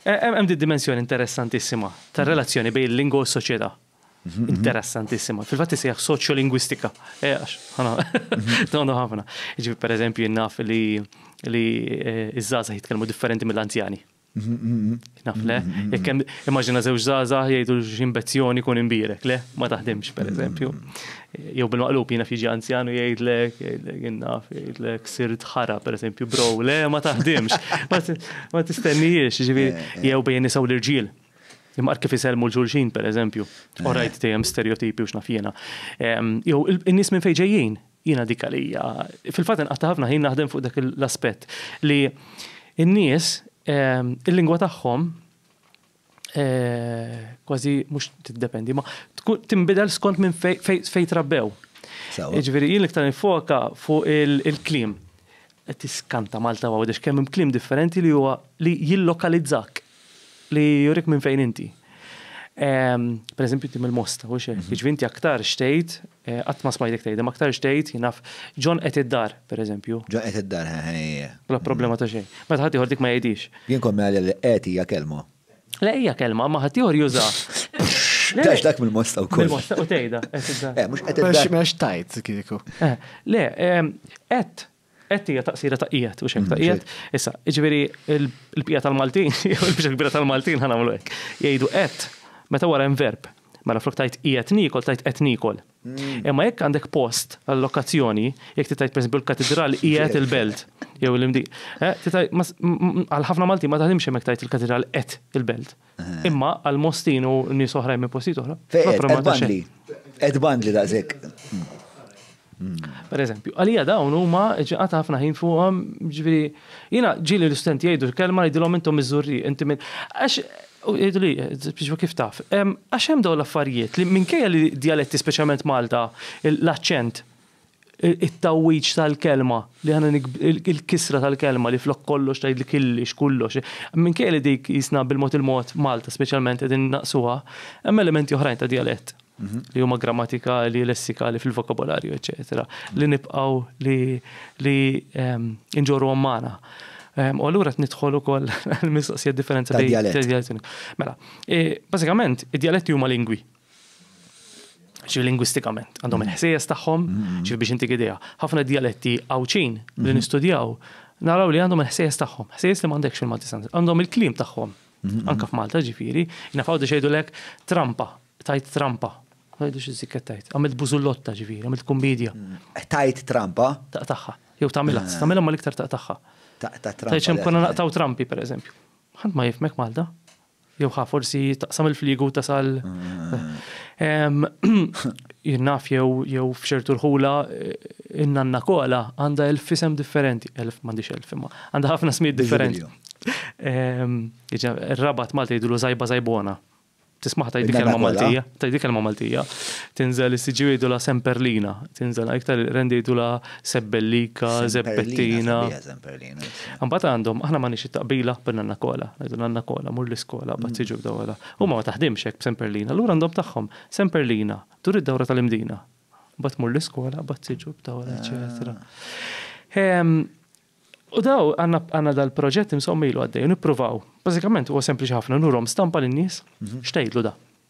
Hemm din dimensjoni interessantissima tar-relazzjoni bejn il-lingwa u s-soċjetà. Mhm. Interessantissima. Fil-fatt isejjaħ soċjolingwistika. Eh, għax, ħana, donu mhm. ħafna. Ġifi, per eżempju, jinnaf li li eh, iż-żaza jitkellmu differenti mill-anzjani. Mhm, Naf le, jekk hemm immaġina żewġ żaza jgħidu x'imbezzjoni kun imbirek, le, ma taħdimx per eżempju. Jew bil-maqlub jiena fiġi anzjanu jgħidlek, jien naf, jgħidlek sirt ħara, per esempio, bro, le ma taħdimx. Ma tistennijiex, ġivi, eh, eh. jew bejn nisaw l-irġiel. Imma kif iselmu l-ġulxin, per eżempju, eh. orajt dejjem stereotipi u xnafjena. Jew in-nies minn fejn ġejjin, jiena dik għalija. Fil-fatt inqatta' ħafna ħin naħdem fuq dak l-aspett li n-nies il-lingwa tagħhom kważi mhux tiddependi, ma tinbidel skont minn fejn trabbew. Jiġifieri jien iktar nifoka fuq il-klim. Qed tiskanta Malta għawdex kemm hemm klim differenti li huwa li jillokalizzak li jurik minn fejn inti. Pereżempju inti mill-Mosta, u xejn, jiġifieri inti aktar xtejt Qatt ma smajtek tgħid, imma aktarx tgħid, jien naf, John qed id-dar, pereżempju. John qed id-dar, eħe. Bla problema ta' xejn. Meta ħaddieħor dik ma jgħidhiex. Jien kont ngħidilha li qed hija kelma. Le hija kelma, imma ħaddieħor jużaha. Tax dak mill-mosta wkoll. Mill-mosta u tgħidha, qed id-dar. Mhux qed id-dar. Mhux tajt kieku. Le, qed Qed hija taqsira ta' qiegħed u xejn ta' qiegħed. Issa, jiġifieri l-bqija tal-Maltin, jew il-biċċa kbira tal-Maltin ħa nagħmlu hekk. Jgħidu qed meta wara hemm verb. Mela flok tajt qiegħed niekol tajt qed niekol. Hmm. Imma jekk għandek post għall-lokazzjoni, jekk titajt pereżempju l-katedral qiegħed il-belt jew l-imdi. Eh, għal ħafna Malti ma taħdimx hemmhekk tajt il-katedral qed il-belt. Imma għal Mostin u nies oħrajn minn postijiet oħra. Ed bandli. Ed bandli daqshekk. Per eżempju, għalija dawn huma ġiqata ħafna ħin fuqhom, ġifieri jiena ġieli l-istudenti jgħidu kelma jgħidilhom intom miżurri, inti minn għax jgħidu li biex kif taf. Għax hemm dawn l-affarijiet li minkejja li djaletti speċjalment Malta, l-aċċent it-tgħawwiġ tal-kelma, li aħna il-kisra tal-kelma li flok kollox tgħidli killix, kullox. Minkejja li dik jisna bil-mod il-mod Malta speċjalment qegħdin naqsuha, hemm elementi oħrajn ta' dialett mhm. li huma grammatikali, lessikali fil-vokabolarju, eċetera, li nibqgħu li li ehm, inġorru magħna. Ehm, u allura nidħol ukoll l-mistoqsija differenza ta' dialett. Mela, e, bażikament, id-dialetti huma lingwi. ċi lingwistikament, għandhom mm. il-ħsejjes tagħhom, mm. ċi biex intik idea. Ħafna dialetti għawċin li mm-hmm. nistudjaw, naraw li għandhom il-ħsejjes tagħhom, ħsejjes li m'għandekx fil-Malti għandhom il-klim tagħhom, mm-hmm. anka f'Malta ġifieri, nafaw di xejdu lek trampa, tajt trampa, għajdu xi zikket tajt, għamilt bużullotta ġifieri, għamilt kumbidja. Mm. Tajt trampa? Taqtaħħa, jew tagħmilha, ah. tagħmilha ma l-iktar taqtaħħa. Tajt xem konna naqtaw trampi, per eżempju. Ħadd ma jifmek Malta. Jew ħa forsi taqsam il-fliegu tasal. Jinnaf jew f'ċertu rħula in-nanna kola għandha elf isem differenti, elf m'għandix elf imma, għandha ħafna smiet differenti. Ir-rabat Malti jgħidu zajba zajbona. Tismaħ tajdi kelma Maltija, tajdi kelma Maltija. Tinżel is-siġi jgħidu la semperlina, tinżel iktar rendi jgħidu la sebbellika, zebbettina. Mbagħad għandhom, aħna m'għandniex it-taqbila b'Nanna Kola, ngħidu Nanna Kola, mur l-iskola, bad tiġi mm. b'dawla. Huma ma taħdimx hekk b'Semperlina, allura għandhom tagħhom Semperlina, dur id-dawra tal-imdina. Bad mur l-iskola, bad tiġi b'dawla, eċetera. Ah. Ehm, u daw għanna dal-proġett insommilu għaddej, nippruvaw. Bażikament huwa sempliċi ħafna, nurhom stampa lin-nies, mhm. xtejdlu da.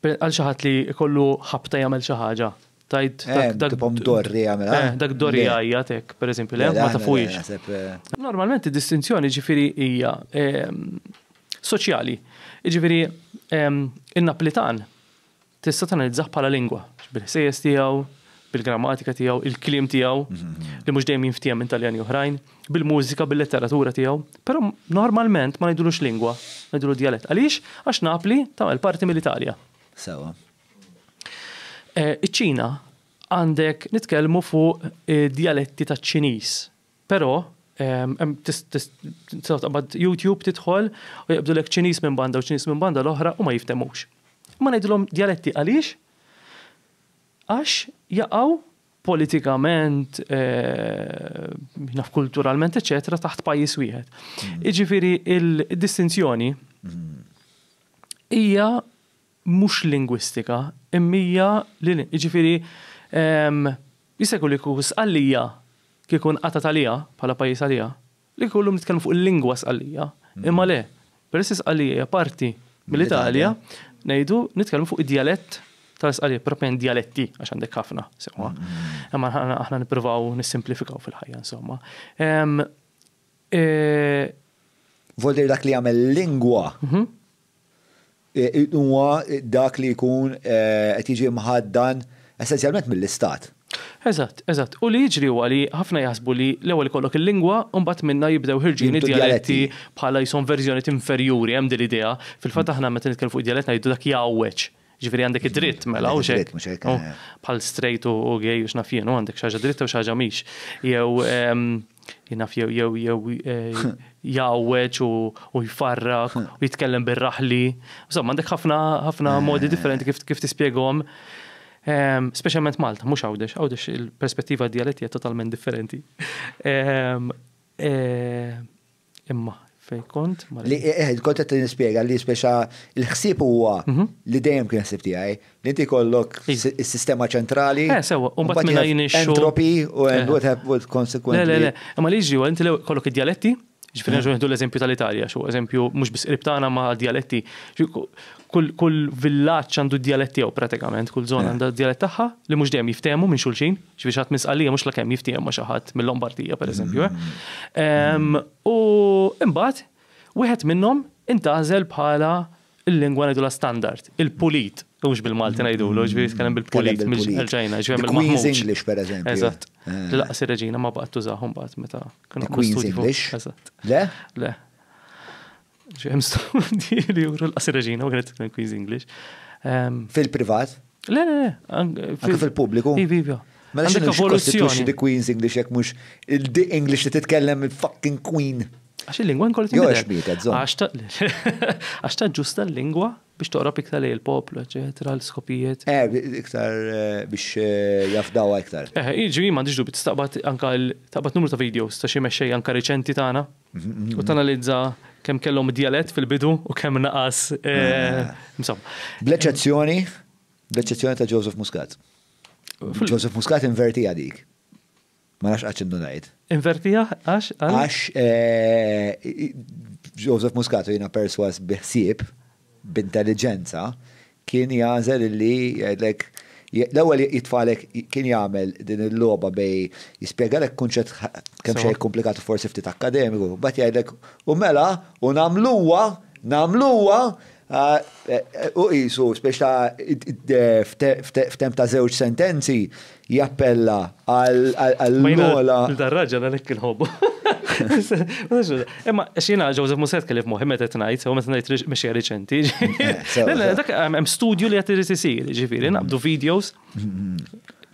Għal xi ħadd li jkollu ħabta jagħmel xi ħaġa. Tajt eh, dak tipom dorri jagħmel. Eh, eh, dak dorri jgħajjat hekk, pereżempju, le ma tafuhiex. Normalment id-distinzjoni ġifieri hija ehm, soċjali. Ġifieri ehm, in-Naplitan tista' tanalizzah bħala lingwa, bil-ħsejjes tiegħu, bil-grammatika tiegħu, il-kliem tiegħu, mhm, mhm. li mhux dejjem jinftiehem minn Taljani oħrajn. bil-mużika, bil-letteratura tiegħu, però normalment ma ngħidulux lingwa, ngħidulu djalett. Għaliex? Għax Napli tagħmel parti mill-Italja. Sewa. Eh, Iċ-Ċina għandek nitkellmu fuq eh, djaletti ta' ċiniż però taqbad YouTube tidħol u jibdu lek ċinis minn banda u ċinis minn banda l-oħra u ma jiftemux. Ma ngħidilhom djaletti għaliex? Għax jaqgħu politikament, naf kulturalment, eċetera, taħt pajjiż wieħed. Jiġifieri il-distinzjoni hija mhux lingwistika, immija li jiġifieri jista' jkun li kieku sqallija kieku nqatgħet għaliha bħala pajjiż għaliha, Li kieku llum nitkellmu fuq il-lingwa Sqallija, imma le, peress li Sqallija hija parti mill-Italja, ngħidu nitkellmu fuq id-djalett tal-Sqallija, proprjament djaletti għax għandek ħafna sewwa. Imma aħna nippruvaw nissimplifikaw fil-ħajja insomma. Ehm, eh, Voldir dak li jagħmel lingwa mhm. huwa dak li jkun qed jiġi mħaddan essenzjalment mill-Istat. Eżatt, eżatt. U li jiġri huwa li ħafna jaħsbu li l-ewwel ikollok il-lingwa u mbagħad minnha jibdew ħirġin id-djaletti bħala jisom verżjoniet inferjuri, hemm din l-idea. Fil-fatt aħna meta nitkellmu fuq id-djalett ngħidu dak jgħawweġ. Ġifieri għandek id-dritt mela u xejn. Oh, bħal straight u gay u x'naf jien, għandek xi ħaġa dritta u xi ħaġa mhix. Jew ehm, jinaf jew jew jew eh, jawweċ u jfarrak u jitkellem bir-raħli. Insomma, għandek ħafna ħafna eh. modi differenti kif kif tispjegom. Ehm, speċjalment Malta, mhux għawdex, għawdex il-perspettiva dialetti totalment differenti. Ehm, eh, Imma fej kont? Li eh, kont qed nispjega li speċa l-ħsieb huwa mhm. li dejjem kien ħsieb tiegħi li inti kollok is-sistema ċentrali. Eh, sewa, u mbagħad minn għajn Entropy u eh. what happened consequently. Le, le, le, imma li ġiju, inti kollok id-dialetti, ġifieri nerġgħu nieħdu l-eżempju tal-Italja, xu eżempju mhux biss qrib tagħna ma' dialetti. Kull kull villaġġ għandu d-djalett tiegħu pratikament, kull żona għandha d-djalett tagħha li mhux dejjem jiftehmu minn xulxin, x'biex ħadd minn Sqallija mhux lakemm jiftiehem ma' xi ħadd mil-Lombardija pereżempju. U imbagħad wieħed minnhom intgħażel bħala l-lingwa ngħidulha standard, il-pulit, u mhux bil-Malti ngħidulu, ġifieri jitkellem bil-pulit mill-Ġajna, ġifieri mill-Queen's English pereżempju. Eżatt. Li lanqas ir-Reġina ma baqgħet tużah imbagħad meta kienu. Il-Queen's English? Eżatt. Le? Le. Ġem studji li juru l-qasir reġina, u għanet Queen's English. Ehm, Fil-privat? Le, le, le. Anke fil-pubbliku? Ivi, ivi. Mela xinu xikostituxi di Queen's English jek mux il-di English li titkellem il-fucking Queen. Għax il-lingwa nkollu t Joħx bietet, zon. Għax ta' ġusta l-lingwa biex toqrob iktar li il-poplu, eccetera, l-skopijiet. Eh, iktar eh, biex eh, jafdawa iktar. Eh, iġi, ma diġdu bit staqbat anka taqbat numru ta' videos ta' xie meċċej anka reċenti tagħna U tanalizza kemm kellhom djalett fil-bidu u kemm naqas. Eh, insomma. Bl-eċċezzjoni, bl-eċċezzjoni ta' Joseph Muscat. Joseph Muscat inverti dik. Ma nafx għax indu ngħid. Invertija għax? Għax eh, Joseph Muscat jina perswas biħsieb b'intelliġenza, kien jagħżel li jgħidlek, l-ewwel jitfagħlek, kien jagħmel din il-logħba bejn jispjegalek kunċett kemxejn ikkumplikat u forsi ftit akkademiku, mbagħad jgħidlek, u mela, u nagħmluha, nagħmluha, u qisu, spiex ta' f'temp ta' żewġ sentenzi, jappella għall-ogħla. Ma dan raġel għalhekk inħobbu. Imma xina Joseph Muset kelli f'moħħi meta qed ngħid, u meta ngħid mexja riċenti. Dak hemm studju li qed irid isir, ġifieri naqbdu videos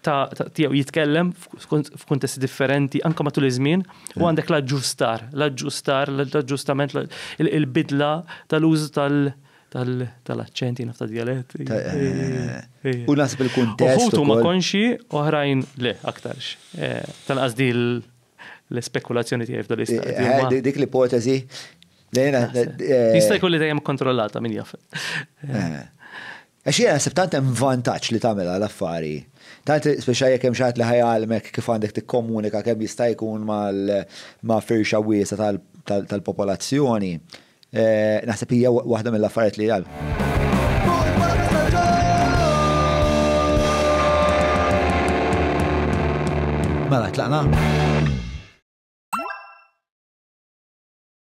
ta' tiegħu jitkellem f'kuntesti differenti anke matul iż-żmien u għandek l-aġġustar, l-aġġustar, l-aġġustament, il-bidla tal-użu tal- Tal-aċċenti naf tad-djalett. U nasib il-kuntest. Uħud huma konxi, oħrajn le aktarx. Tanqas di l-spekulazzjoni tiegħi f'dan l-istadju. Dik l-ipoteżi. Jista' jkun li dejjem kontrollata min jaf. Għax jiena nasib tant hemm vantaġġ li tagħmilha l-affari. Tant speċa jekk hemm xaħat li ħajalmek kif għandek tikkomunika kemm jista' jkun ma' firxa wiesa tal-popolazzjoni. Naħseb hija waħda mill-affarijiet li għal. Mela, tlaqna?